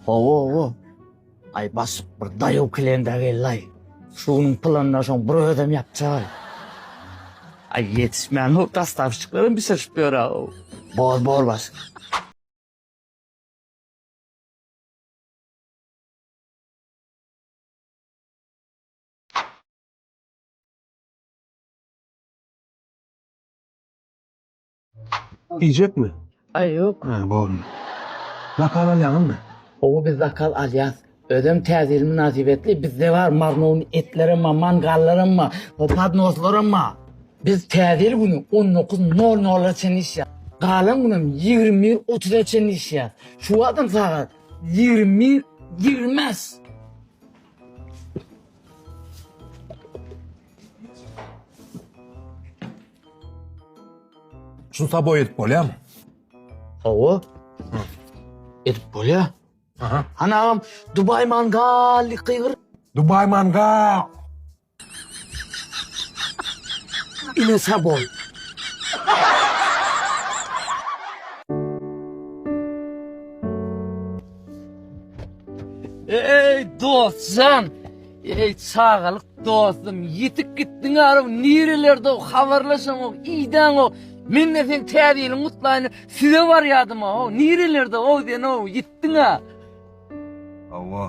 Ho-ho-ho! Aý, basyk bir daýaw kylenda geldi-aý. Şu günüň planyny şoň bir özem ýapjak-aý. Aý, ýetişmän hol dostawşçyklaram bişirişip ýör-ow. Bor, bor basyk. Iýjekmi? Aý ýok. Hä boldy. Zakaz alýaňyzmy? Hawa biz zakaz alýas. Özem täze ýyl mynasybetli bizde bar marnown etlerem bar, mangallaram bar, podnoslaram bar. Biz täze ýyl güni on dokuz nol nola çenli işýas. Galan günem ýigrimi bir otuza çenli işýas. Şu wagtam sagat ýigrimi bir ýigrimi bäş. Şunu sabo edip bolýar mı? Hawa. Edip bolýar. Aha. Hany agam, Dubai mangal gygyr. Dubai manga. Ine sabon. Ey dostjan, Eý çagalyk dostum ýitip gitdiň arow nirelerdew habarlaşaňok iýdäňok mende seň täze ýylyň gutlaýyny size barýadym aw nirelerde ow sen ow ýitdiň a. Hawa.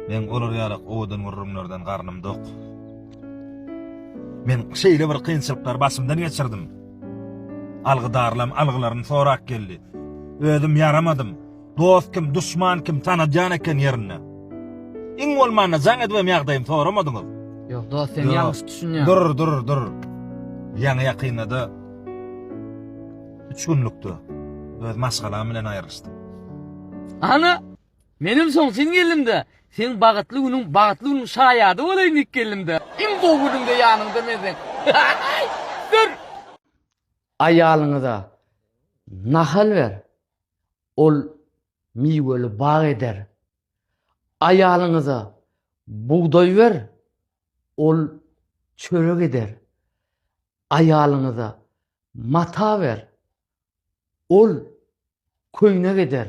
Men olar ýaly owadan gürrüňlerden garnym dok. Men şeýle bir kynçylyklary başymdan geçirdim. Algydarlam algylaryny sorap geldi. Özüm ýaramadym. Dost kim, duşman kim, tanadýan eken ýerinde. Iň bolmanda jaň edibem ýagdaýym soramadyňyz. Ýok dost sen ýalňyş düşünýäň. Dur dur dur. Ýaňy ýakynda-da 3 günlükde öz maşgalam bilen aýrylyşdym. Ana! Menem soň sen geldim-de, seň bagytly günüň bagytly günüň şaýady bolaýyn diýip geldim-de. Iň gowy günümde ýanyňda men seň. Dur! Aýalyňyza nahal ber. ol miweli bag eder. Aýalyňyza bugdaý ber, ol çörek eder. Aýalyňyza mata ber, ol köýnek eder.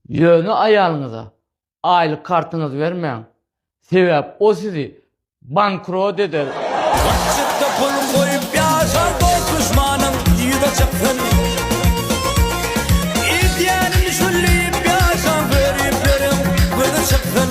Ýöne aýalyňyza aýlyk kartyňyzy bermäň, sebäp o sizi bankrot eder. Gaçjakda pulun goýup ýaşar dos duşmanyň yza çyksyn. Edýänin şul diýip ýaşaň göripleriň gözi çyksyn.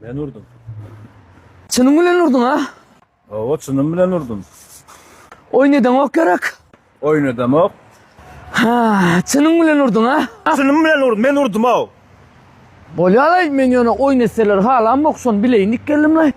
Men urdum. Çynyň bilen urduň a? Hawa, çynym bilen urdum. Oýun edeňok gerek. Oýun edemok. Ha, çynyň bilen urduň a? Çynym bilen urdum, men urdum-ow. Bolýar-laý, men ýöne oýun etseler halamok, şony bileýin diýip geldim-laý.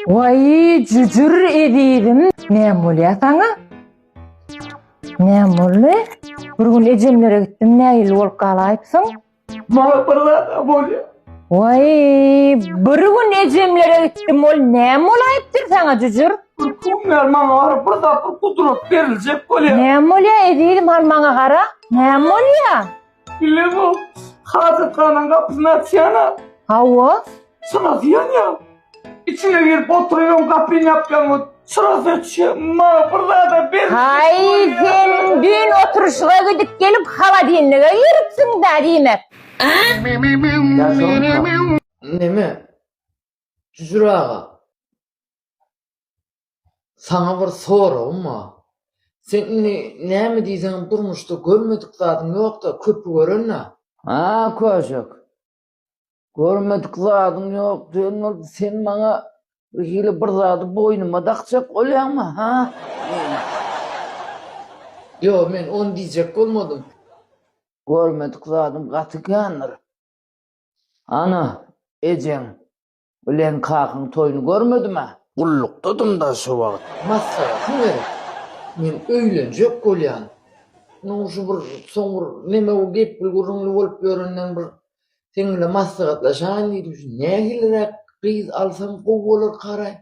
Waýý, jüjür ezizim, näme bolýar saňa? Näme boldy? Bir gün ejemlere gitdiň, nägilli bolup galaýypsyň? Maňa bir zat-a bolýar. Waý, bir gün ejemlere gitdim, ol näme bolaýypdyr saňa, jüjür? Bir gün bäri maňa gara, bir zat, bir gudrat beriljek bolýar. Näme bolýar, ezizim, hany maňa gara, näme bolýar? Bile bu. Hajathananyň gapysyny açýan-a. Hawa. Çyrasy ýanýa. Içine girip oturyň, gapyny ýapýaň, ot. Çyrasy öçýä. Ma, bir zada ber. Haý, sen düýn oturyşyga gidip gelip holodilnige giripsiň-dä diýmek. Ýaşulyka. Neme? Jüjür aga. Saňa bir soragym bar. Sen indi näme diýseňem durmuşda görmedik zadyň ýok-da, köpi gören-dä? A, köşek. Görmedik zadyň ýok diýen bolup, sen maňa bir hili bir zady boýnuma dakjak bolýaňmy, ha? Ýok, men ony diýjek bolmadym. Görmedik zadym gaty kändir. Ana, ejeň Bilen kakyň toýuny görmedim-ä. Gullukdadym-da şo wagt. Maslahatyň gerek. Men öýlenjek bolýan. Munuň şu bir soň bir neme bu gepli gürrüňli bolup ýörenden bir seň bilen maslahatlaşaýyn diýdim. Şu nähiliräk gyz alsam gowy bolar karaý?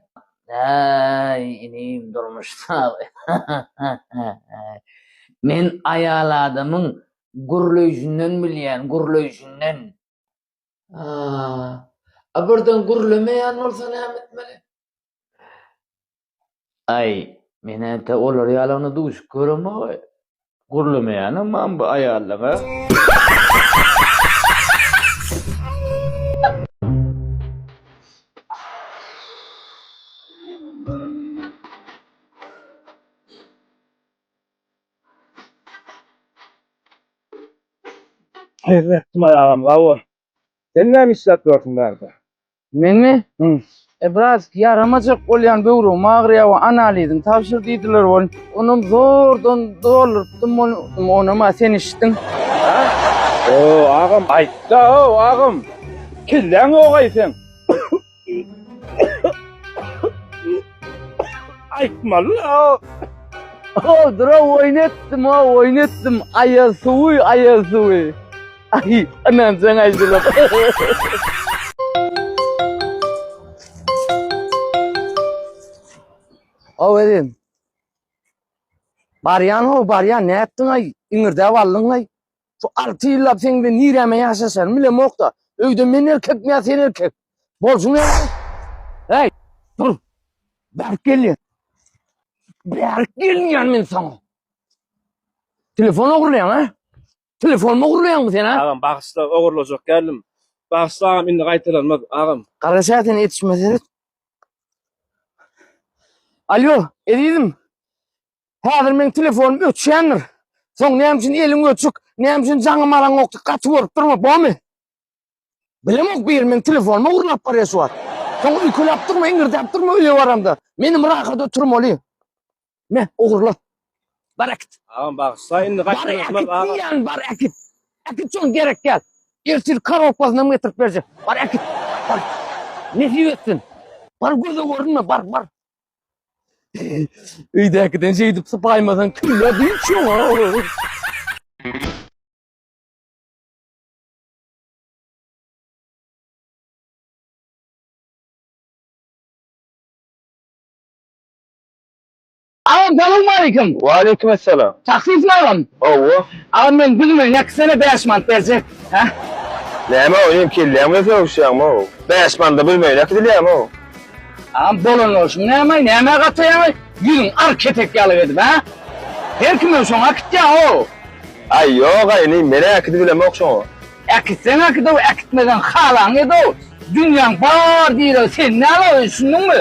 Äý, inim, durmuş sag. Men aýal adamyň gürleýşinden bilýän, gürleýşinden. A birden gürlemeýän bolsa näme etmeli? Aý, men ente olar ýalagyna duşup göremok-aý. Gürlemeýänem mam bu aýallara. Ysmaýyl agam sag bol. Sen näme işläp ýörsüň bärde? Menmi? Hü. E biraz ýaramajak bolýan böwregim agyrýar we analiziň tabşyr diýdiler ol. Onam zordan doldurypdym ol onam a sen eşitdiň. Hoo agam aýtda hoo agam. Kelläň ýogaý seň. Aýtmaly ýa. O dura oýun etdim, o oýun etdim. Aýaz suwy, aýaz suwy. Ay, anam sen aýdylyp. Awerin. Baryan ho, baryan. Ne ettin ay? İngirde vallın ay. Şu alty ýyllap seň bilen nireme ýaşaşanym bilemok-da. Öýde men erkekmi ýa sen erkek? Bolşuň näme? Heý, dur. Bärik gelýän. Bärik gelýän men saňa. Telefon ogurlaýaň, ha? Telefonumy ogurlaýaňmy sen, ha? Agam bagyşla ogurlajak geldim. Bagyşla agam indi gaýtalanmaz agam. Gara şätini etişme seret. Alýo, ezizim. Häzir meň telefonym öçýändir. Soň näme üçin eliň öçük, näme üçin jaňym araň ýokdy, gaty görüp durma, bomy? Bilemok bir men telefonuma urlap barýar şu wagt. Soň öýkeläp durma, iňirdäp durma öýe baramda. Menem rahat oturmaly. Me, ogurla. Bar äkit. Agam bagyşla indi gaýtdan Bar äkit agam. diýýän, bar äkit. Äkit şoň gerek ýaly. Ertir korobkasyny hem getirip berjek. Bar äkit. Bar. Nesip etsin. Bar göze görünme, bar, bar. Öýdäkiden şeýdip sypaýmasaň kimle dynç ýoň? Agam salam aleyküm. Waleýkim essalam. Taksismi agam? Hawa. Agam men gülüme ýaky sene bäş mant berjek. Hä? Näme ow inim kelläň bilen sögüşýäňmi ow? Bäş manda bilmeýin ýaky dilýäňmi ow? Am bolan bolsun näme, nämä gataýaňy, ýüzüň ar kepek ýaly edip, hä? Her kimem şoňa äkitýär-ow. Aý, ýog-aý, inim, men äkidip bilemok şoňa. Äkitseň äkit-ow, äkitmeseň halaňy et-ow. Dünýäň bar diregi sende-ow, düşündiňmi?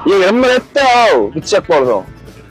Ýigrim bir et-de-ow, gitjek bolsaň.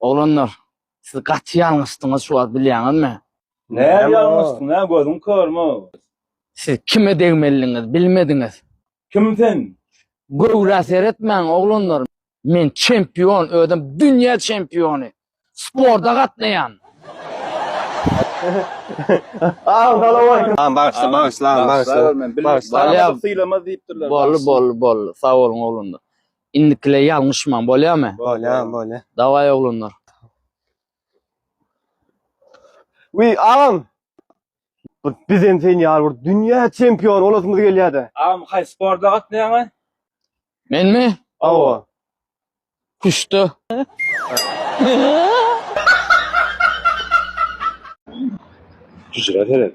Oglanlar, siz gaty ýalňyşdyňyz şu wagt bilýäňizmi? Näme ýalňyşdyň, hä, gözüň körmi? Siz kime degmelidiňiz, bilmediňiz? Kim sen? Göwrä seretmäň, oglanlar, men çempion, özem dünýä çempiony, sporta gatnaýan. Bagyşla, bagyşla, bagyşla. Bolýa, boldy, boldy, boldy, sag boluň, oglanlar. Indikilä ýalňyşmaň, bolýamy? Bolýa, bolýa. Dawaý oglanlar. Wiý, agam. Bir bizem sen ýaly bir dünýä çempiony bolasymyz gelýär-de. Agam haýsy sporta gatnaýaňa? Menmi? Hawa. Küştde. Hüjrä seret.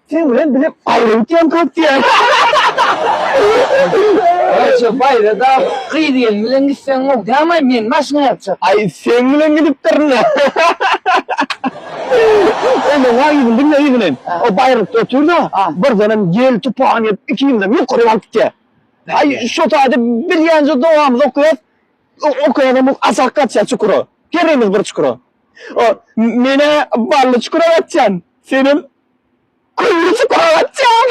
Sen bilen bile baýra gitýän köp diýýän. Aýje baýra da gyz gelin bilen gitseň gowy dämaý men maşyna ýatjak. Aý seň bilen gidipdirine. Ondan gaý gyzym diňle yzyny hem. O baýrakda otyr da birdenem ýel tupan gelip ikimizem ýokaryk alyp gitýär. Aý şo taýda bilýänje dogamyzy okaýas. Okaýanam bu aşak gaçýas çukura. Herimiz bir çukura. Menä bally çukura gaçýan. Senem Gülüjik Polatjan.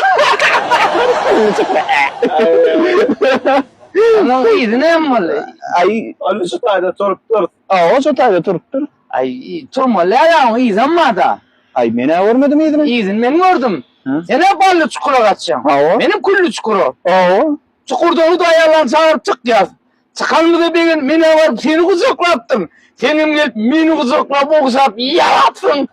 Onuň yzy näme boldy? Aý, ony şu taýda turup dur. Hawa, şu taýda turup dur. Aý, turmaly-a ýa oň yzam bar-da. Aý, men-ä görmedim yzyny. Yzyny men gördüm. Sen-ä Bally çukura gaçýaň. Hawa. Menem Külli çukura. Hawa. Çukurdan hudaýýarlaryny çagyryp çykýas. Çykanymyza begenip, men-ä baryp seni gujaklapdym. Senem gelip, meni gujaklap, ogşap, ýalapsyň.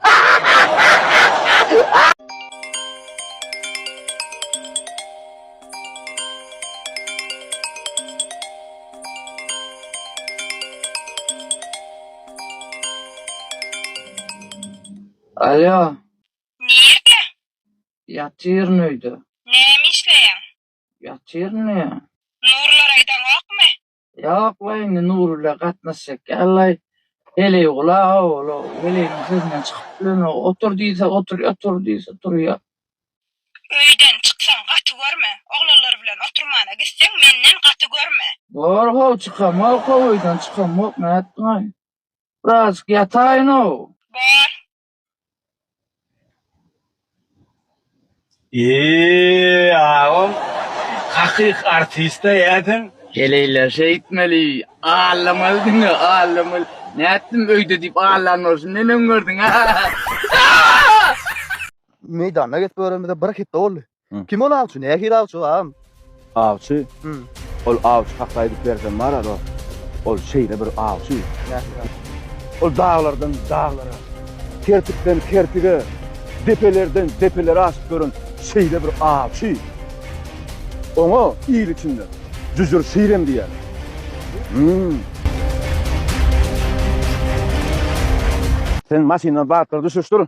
Alýo. Nirde? Ýatyryn öýde. Näme işleýäň? Ýatyr ne? Nurlar aýdaňokmy? Ýok we indi Nur bilen gatnaşjak ýallaý. Heleý gula ola heleýiň sesinden çykyp bilen otur diýse otur otur diýse turýa. Öýden çyksaň gaty görme. Oglanlar bilen oturmana gitseň menden gaty görme. Bor how çykamok how öýden çykamok nätdiňaý. Biraz ýataýyn how. Bor. Eee agam hakyky artiste ýasen. Heleýler şeýtmeli allamaly diňe allamaly nätdim öýde diýip allan bolsun neneň gördüň a. Meýdanyna gelip göremizä bir hepde boldy. Kim ol awçy? Nähili awçy ol agam? Awçy? Hum. Ol awçy hakda aýdyp bersem bar alo. Ol şeýle bir awçy. Nähili? Ol daglardan daglara, kertikden kertige, depelerden depelere aşyp ýören şeýle bir awçy. Oňa il içinde Jüjür Şirem diýýärler. Hum. Sen maşyndan batlygy düşüşdir.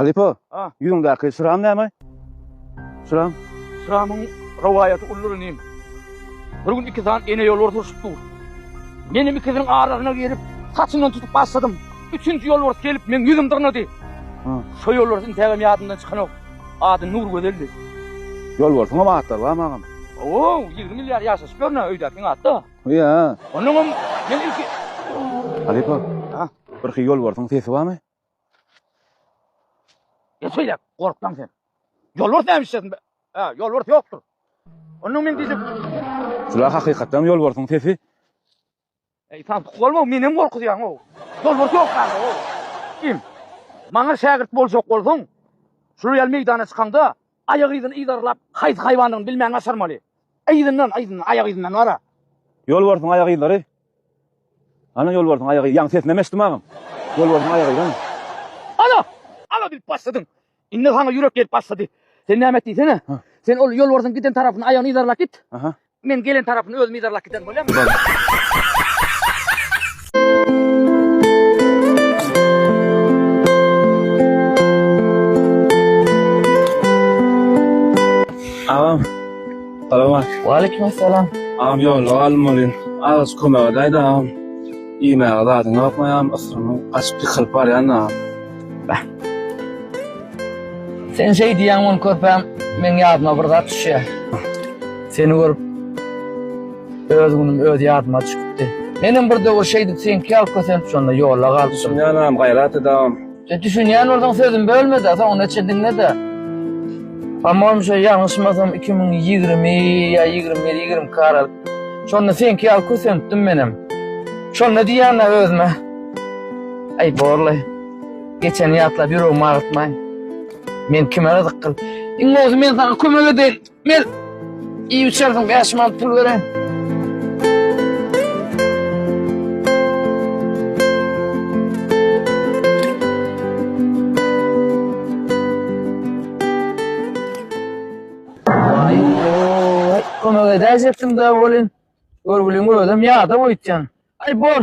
Halypa, ýüzüňdäki şram näme? Şram? Şramyň rowaýaty uludyr inim. Bir gün iki sany ene ýolbars urşup dur. Menem ikisiniň arasyna girip, saçyndan tutup başladym. Üçünji ýolbars gelip, meň ýüzüm dyrnady. Şo ýolbars intägem ýadymdan çykanok. Ady Nurgözeldi. Ýolbarsyňam atlary barmy, agam? Ho-ow, ýigrimi ýyl ýaly ýaşaşyp ýörün-ä, öýdäkiň at-da. Ýa. Onuňam men ilki. Halypa, birki ýolbarsyň sesi barmy? Geç şeýle, gorksaň sen. Ýolbars näme işlesin? Ha, ýolbars ýokdur. Ondan men diýdim. Şula hakykatdan ýolbarsyň sesi. Eý, santyk bolma, menem gorkuzýaň-ow. Ýolbars ýok zada-ow. Kim? Maňa şägirt boljak bolsaň, şular ýaly meýdana çykaňda, Aýak yzyny yzarlap, haýsy haýwandygyny bilmän gaçyrmaly. Yzyndan, yzyndan, aýak yzyndan bara. Ýolbarsyň aýak yzlary. Hany ýolbarsyň aýak yzlary? Ýaňy sesinemi eşitdim agam. Ýolbarsyň aýak yzlary. Ala! Ala diýip başladyň. Indi saňa ýürek gelip başlady. Sen näme et diýsene. Sen ol ýolbarsyň giden tarapyna aýagyny yzarlap git. Men gelen tarapyny özüm yzarlap giden bolýarmy? Agam. Salam. Waleýkim salam. Agam ýolda galym bolýar. Az kömek edäýdi agam. Iýmäge zadyň ýokmy agam? Ysgynym gaçyp ýykylyp barýan agam. Sen şey diýýäň ol körpäm, men ýadyma bir zat düşýär. Seni görüp öz günüm öz ýadyma düşüpdi. Menem bir döwür şeýdip seňki ýaly kösenip şonda ýolda galyp. Düşünýänem, gaýrat edäm. E, düşünýän bolsaň sözüm bölmede, soňuna çenli diňlede. Amma onuň şeýle ýalňyşmasam 2020 ýa 21-22 aralyk. Şonda seňki ýaly kösenipdim menem. Şonda diýýän özüme. Aý borlaý. Geçeni ýatlap ýüregimi agyrtmaý. Men kime gyzyk gyl. Iň bolsa men saňa kömek edeýin. Men iýip içersiň bäş manat pul bereýin. Waý kömek edäýjekdim-dä welin, görgüliň özem ýadap oýtýan. Aý bor,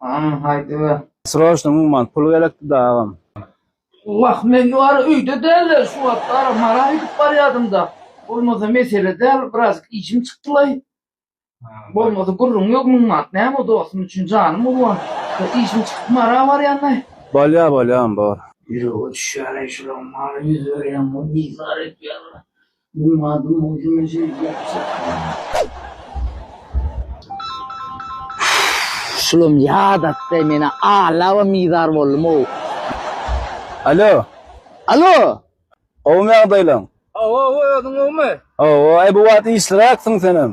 Aman haydi be. Sroşno muman pul gerekdi da agam. Wah men ýuwara öýde däldir şu wagt ara mara gidip barýadym da bolmasa mesele däl biraz işim çykdylaý bolmasa gürrüň ýok müň manat näme dostum üçin janym urban bir işim çykyp mara barýanlaý. Bolýa bolýa on bor. Ýürege düşýäreý şulaň mara ýüz berýän bol bizar etýärler Meniň adym Muhsin Mejit. Şulam ýadatda menä alabam bizar boldum-ow. Alo. Alo. Gowumy ýagdaýlaň? Gowy, özüň gowumy? Gowy. Aý, bu wagt işliräkdiň senem.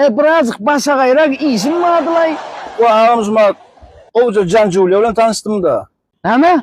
E, birazjyk başagaýrak işim bardylaý. Wah, agam Žumat, gowuja Jan Julia bilen tanyşdym-da. Näme?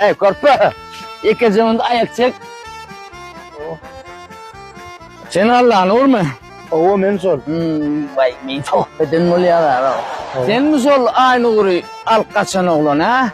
Ey körpe, ikinci onda ayak çek. Sen Allah'ın olur mu? Ova men sol. Hmm, vay men sohbetin bolýar ha. Sen mi sol aynı guri al kaçan oglan ha?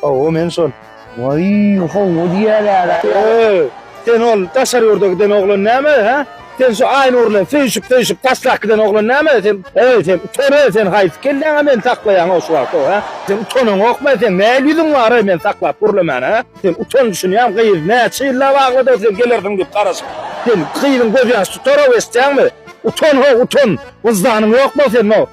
Ova men sol. Waý, howwa diýýäler-ä. Öý, sen ol daşary ýurda giden oglan näme, hä? Sen şu Aýnur bilen söýşüp-söýşüp taslak giden oglan näme, sen? Öý, sen utan-öý, sen haýsy kelläňe meni saklaýaň-ow şu wagt-ow, hä? Sen utanaňokmy, sen näl ýüzüň bar-oý meni saklap gürlemän, hä? Sen utan düşünýäňmi, gyz näçe ýyllap aglady-ow sen gelersiň diýip garaşyp. Sen gyzyň gözýaşy tutar-ow eşitýäňmi? Utan-ow, utan! Wyždanyň ýokmy-ow seniň-ow?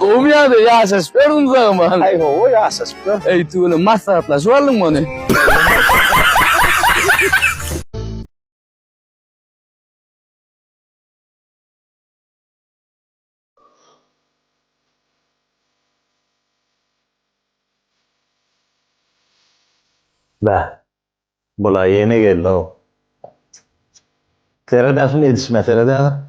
Gowumy ýagdaý, ýaşaşyp ýördüňmi Zagman? Aý gowy, ýaşaşyp ýör. Eý tüweleme, maslahatlaşyp aldyňmy ony? Bäh, Bula ýene geldi-ow. Seret ähli edişime seret häzir.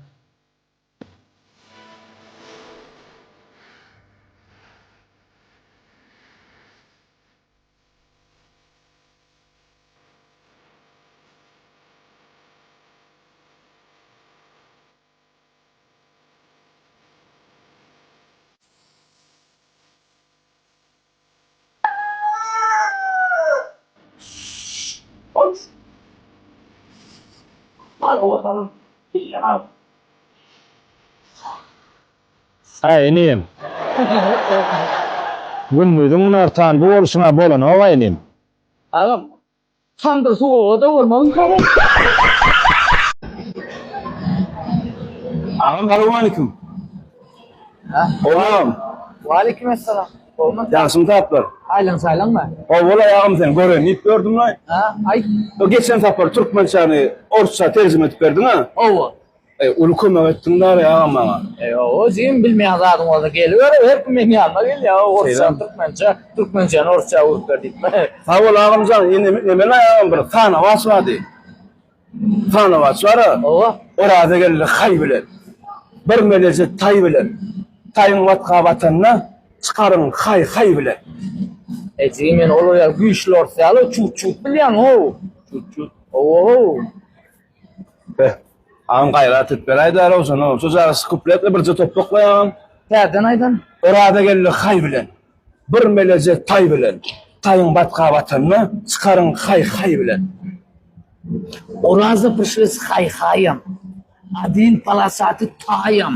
Äý, inim. Gündiziň günortan bu bolşuň-a bolanok-a, inim. Agam, Tandyr suwuga dogurmagyň Agam salowmaleýkim. Oglam. Waleýkim essalam. Hormat. Ýagşymy taplar. Aýlan saýlan bar. Hawa laý agam seni göreýin diýip gördüm laý. Ha, aýt. Geçen sapar türkmençäni orsça terjime edip berdiň-ä? Hawa. Eý uly kömek etdiň Dary aga maňa. Eýýoo jigim bilmeýän zadyň bolsa geliber her kim meň ýanyma gelýä orsça türkmençe türkmençäni orsça öwrüp ber diýip. Sag bol agamjan indi nemen aýagym bir sanawaç bady sanawaç bara oba orazageldi haý bilen bir meleje taý bilen taýyň watga batanda çykaryn haý haý bilen. Eý jigim men ol ýaly güýçli orsça ýaly çut çut bilýän how. Çut çut. Owow. Agam gaýrat et bir aýda Rowşana şojagaz kupletli birje topbak goý agam. Täzeden aýdan. Oraza geldi haý bilen. Bir meleje taý bilen. Taýyň batga batanda çykaryň haý haý bilen. Oraza prişlis haý haýam. Adin palasaty taýam.